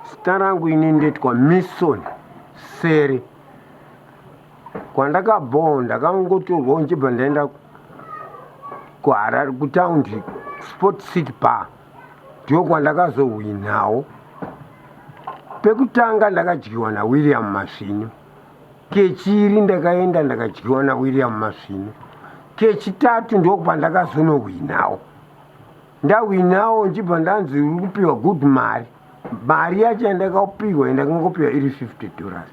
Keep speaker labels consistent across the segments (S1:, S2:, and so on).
S1: Zita rangu ini ndoitwa Mison Seri. Kwandakabhowa ndakangotorwawo ndichibva ndaenda kuHarare kutaundi Sport City Bar. Ndiko kwandakazohwinawo. Pekutanga ndakadyiwa naWilliam Masvinu. Kechiri ndakaenda ndakadyiwa naWilliam Masvinu. Kechitatu ndokwa ndakazonohwinawo. ndahwinawo ndichibva ndanzi uri kupiwa good mari mari yacho yandakapiwa yandakangopiwa iri 50 dollars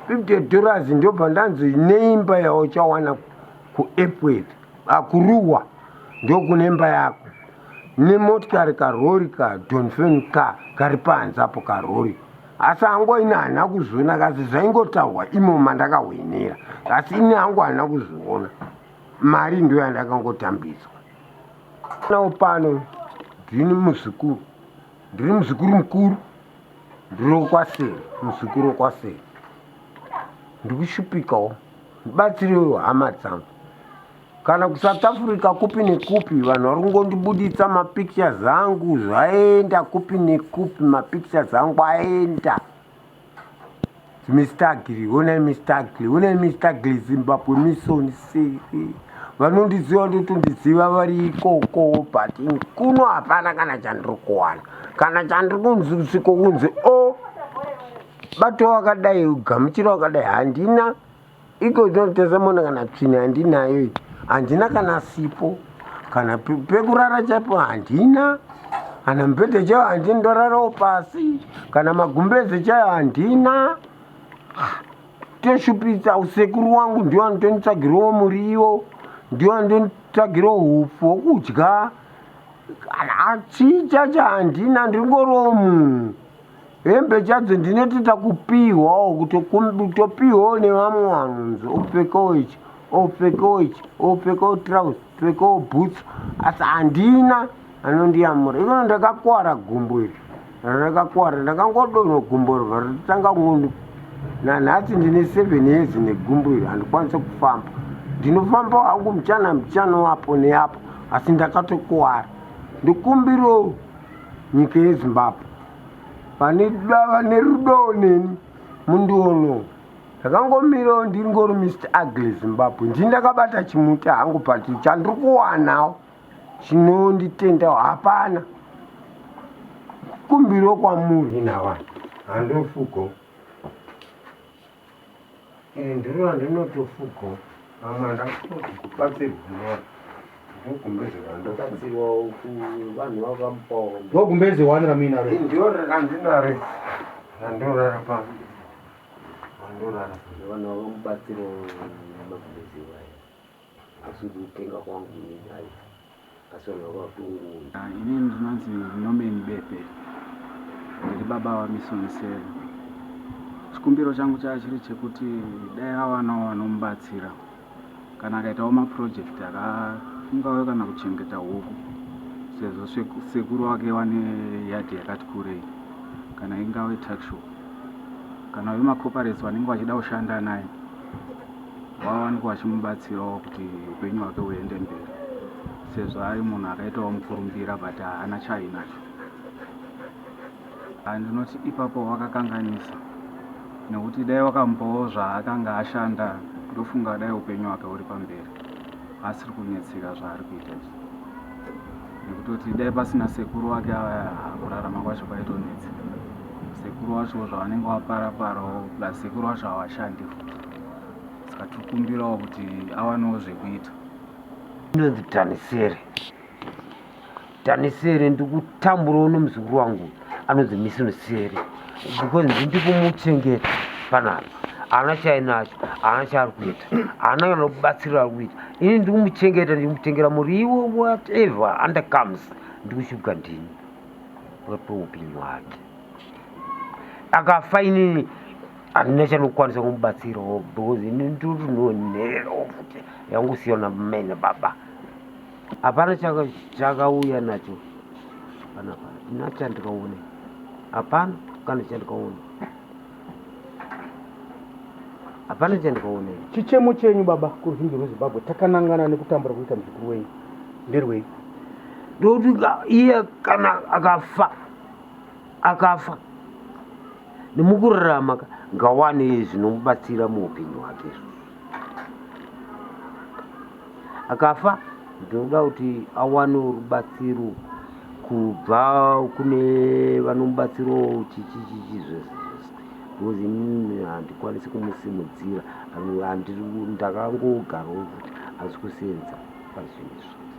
S1: 50 dollars ndobva ndanzi neimba yauchawana kuepworth akuruwa ah, ndokune imba yako nemotikari karori kadonfen ka kari panze apo karori asi hangu ini hana kuzviona kasi zvaingotaurwa imo mandakahwenera asi ini hangu hana kuzviona mari ndo yandakangotambidzwa Nawo pano ndini muzukuru, ndiri muzukuru mukuru, ndiri wokwaseri, muzukuru wokwaseri. Ndiri kushupikawo ndibatsirewo hama dzangu. Kana kuSouth Africa kupi nekupi vanhu vari kungondibuditsa mapictures angu zvaenda kupi nekupi mapictures angu aenda. Mistagli, honai mistagli, honai mistagli Zimbabwe mission siri. Vanondiziva ndotondiziva vari ikoko but kuno hapana kana chandiri kuwana. Kana chandiri kunzi kusviko kunzi o oh, bato wakadai gamuchira wakadai handina iko ndinotesa mona kana tsvina handinayo handina kana sipo kana pekurara chaipo handina kana mubhedhe chaiyo handina ndorarawo pasi kana magumbeze chaiyo handina toshupisa usekuru wangu ndiwo anotonditsvagirawo muriwo ndiwo anotonditsvagirawo hupfu hwokudya kana achicha chahandina ndingorowo munhu hembe chadzo ndinoti takupihwawo kuti topihwawo nevamwe vanhu nzi opfekawo ichi opfekawo ichi opfekawo trouse pfekawo boots asi handina anondiyamura ikono ndakakwara gumbo iri rakakwara ndakangodonho gumbo riva ritanga kungondi nanhasi ndine seven years negumbo iri handikwanise kufamba ndinofamba hangu muchana muchana wapo neapo asi ndakatokwara ndikumbiro nyika yezimbabwe vane vane rudo neni mundiono ndakangomirawo ndiri ngori mr ugly zimbabwe ndii ndakabata chimuti hangu pati chandiri kuwanawo chinonditendawo hapana kumbiro kwamuri navanhu handofugo Iri ndiro randinotofuga mama ndakubatsirwa
S2: ndogumbeze wani ramuinaro ndiro randinaro
S1: randorara pa randorara vana
S3: vamubatsiro magumbeze waya Asi kutenga kwangu ini nhai. Asi vanhu vava kutongoona.
S4: Ah, ini ndinonzi Norman Bepe. Ndiri baba vaMisoni Sele. Chikumbiro changu chava chiri chekuti dai avanawo vanomubatsira kana akaitawo mapurojekiti akafungawo kana kuchengeta huku sezvo sekuru wake wane yadhi yakati kurei kana ingave taxshow kana vemacoparets vanenge vachida kushanda naye vawanikwa vachimubatsirawo kuti upenyu hwake huende mberi sezvo ari munhu akaitawo mukurumbira but haana chainacho andinoti ipapo wakakanganisa nekuti dai wakamupawo zvaakanga ashanda ndofunga dai upenyu hwake huri pamberi asiri kunetseka zvaari kuita izvi nekutoti dai pasina sekuru wake avaya kurarama kwacho kwaitonetsa sekuru wacho zvavanenge waparaparawo plus sekuru wacho hawashandi futi saka tiri kumbirawo kuti awanewo zvekuita inonzi
S1: tanisere tanisere ndikutamburawo nemuzukuru wangu anonzi misinosere because ndikumuchengeta panapa haana chainacho haana chaari kuita haana kana kubatsirira ari kuita ini ndikumuchengeta ndikumutengera muriwo whatever under comes ndikushubwa ndini wepeupenyu hwake akafa inini handina chanokwanisa kumubatsirawo because ini ndotunonhererawo futi yangusiyana mene baba hapana chakauya nacho hapana pana ina chandikaone hapana kana chandikaone hapana chandikaone chichemo chenyu baba
S2: kuruzhinji rwezimbabwe takanangana nekutambura kuita muzukuru wenyu nderwei
S1: ndokuti iye kana akafa akafa nemukurarama ka ngawane zvinomubatsira muupenyu hwake akafa ndinoda kuti awane rubatsiro kubva kune vanomubatsirawo chichichichi zvese because inini handikwanisi kumusimudzira ndakangogarawo futi asi kusenza pazvinhu izvi